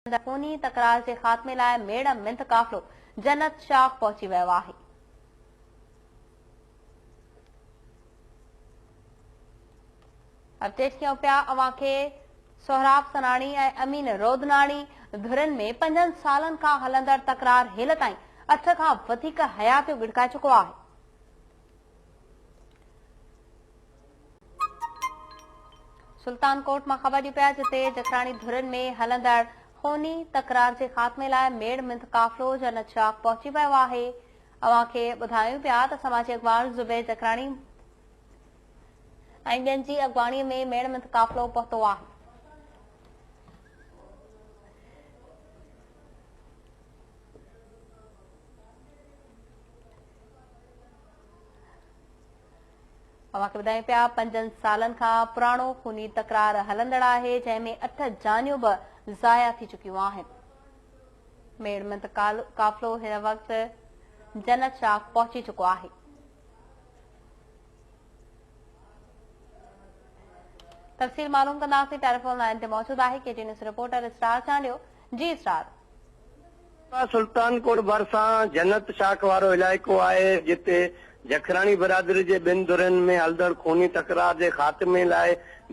سندس خوني تڪرار جي خاتمي لاء ميڙ مند قافلو جنت شاخ پهچي ويو آهي. اپڊيٽ ڪيون پيا اوهان کي سهراب سناڻي ۽ امين رودناڻي ڌرين ۾ پنجن سالن کان هلندڙ تڪرار هيل تائين اٺ کان وڌيڪ حياتيون ڳڙڪائي چڪو آهي. سلطان ڪوٽ مان خبر ڏي پيا جتي جکراڻي ڌرين ۾ هلندڙ خوني تڪرار جي خاتمي لاء ميڙ مند قافلو جنت شاخ پهچي ويو آهي اوهان کي ٻڌايون پيا ته سماجي اڳواڻ زبير جکراڻي ۽ ٻين جي اڳواڻي ۾ ميڙ مند قافلو پهتو آهي اوهان کي ٻڌايون پيا پنجن سالن کان پراڻو خوني تڪرار هلندڙ آهي جنهن ۾ اٺ جانيون به ضايع ٿي چڪيون آهن ميڙمنت قافلو هن وقت جنت شاخ پهچي چڪو آهي تفصيل معلوم ڪنداسين ٽيليفون لائن تي موجود آهي ڪي ٽي نيوز رپورٽر اسٽار چانڊيو جي سر. ڪا سلطان ڪوٽ ڀرسان جنت شاخ وارو علائقو آهي، جتي جکراڻي برادري جي ٻن ڌرين ۾ هلندڙ خوني تڪرار جي خاتمي لاء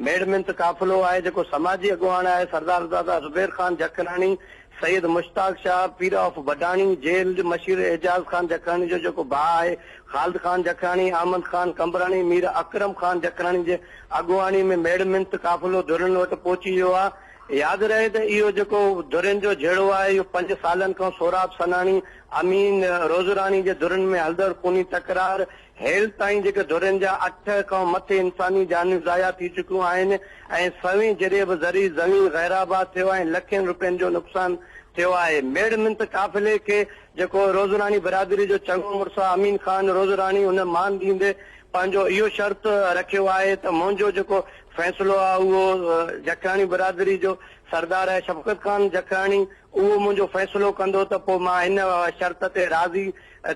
ميڙ منٿ قافلو آهي، جيڪو سماجي اڳواڻ آهي سردار دادا زبير خان جکراڻي، سيد مشتاق شاهه، پير آف بڊاڻي، جيل مشير اعجاز خان جکراڻي جو جيڪو ڀاء آهي، خالد خان جکراڻي، احمد خان قمبراڻي، مير اڪرم خان جکراڻي جي اڳواڻي ۾ ميڙ منٿ قافلو ڌرين وٽ پهچي ويو آهي. ياد رهي ته اهو جيڪو ڌرين جو جهيڙو آهي اهو پنج سالن کان سهراب سناڻي، امين روزراڻي جي ڌرين ۾ هلندڙ خوني تڪرار، هيل تائين جيڪي ڌرين جا اٺ کان مٿي انساني جانيون ضايع ٿي چڪيون آهن ۽ سوين جريب زرعي زمين غيرآباد ٿيو ۽ لکين روپين جو نقصان ٿيو آهي ميڙ منٿ قافلي کي جيڪو روزراڻي برادري جو چڱو مڙس آهي امين خان روزراڻي ان مان ڏيندي پنهنجو اهو شرط رکيو آهي ته منهنجو جيڪو فيصلو آهي اهو جکياڻي برادري جو سردار آهي شفقت خان جکياڻي اهو منهنجو فيصلو ڪندو ته پوء مان ان شرط تي راضي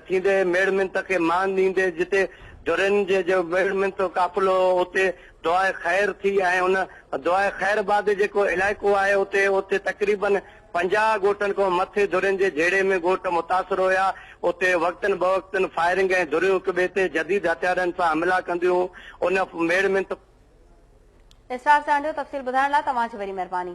ٿيندي ميڙ منت کي مان ڏيندي جتي ڌرين جي جو ميڙ منت قافلو اتي دعائي خير ٿي ۽ ان دعائي خير بعد جيڪو علائقو آهي اتي اتي تقريبن پنجاهه ڳوٺن کان مٿي ڌرين جي جهيڙي ۾ ڳوٺ متاثر هيا، اتي وقتن بوقتن فائرنگ ۽ ڌريون هڪ ٻئي تي جديد هٿيارن سان حملا ڪنديون هيون، ان ميڙ منت. اسرار سهڻ جو تفصيل ٻڌائڻ لاء توهان جي وڏي مهرباني.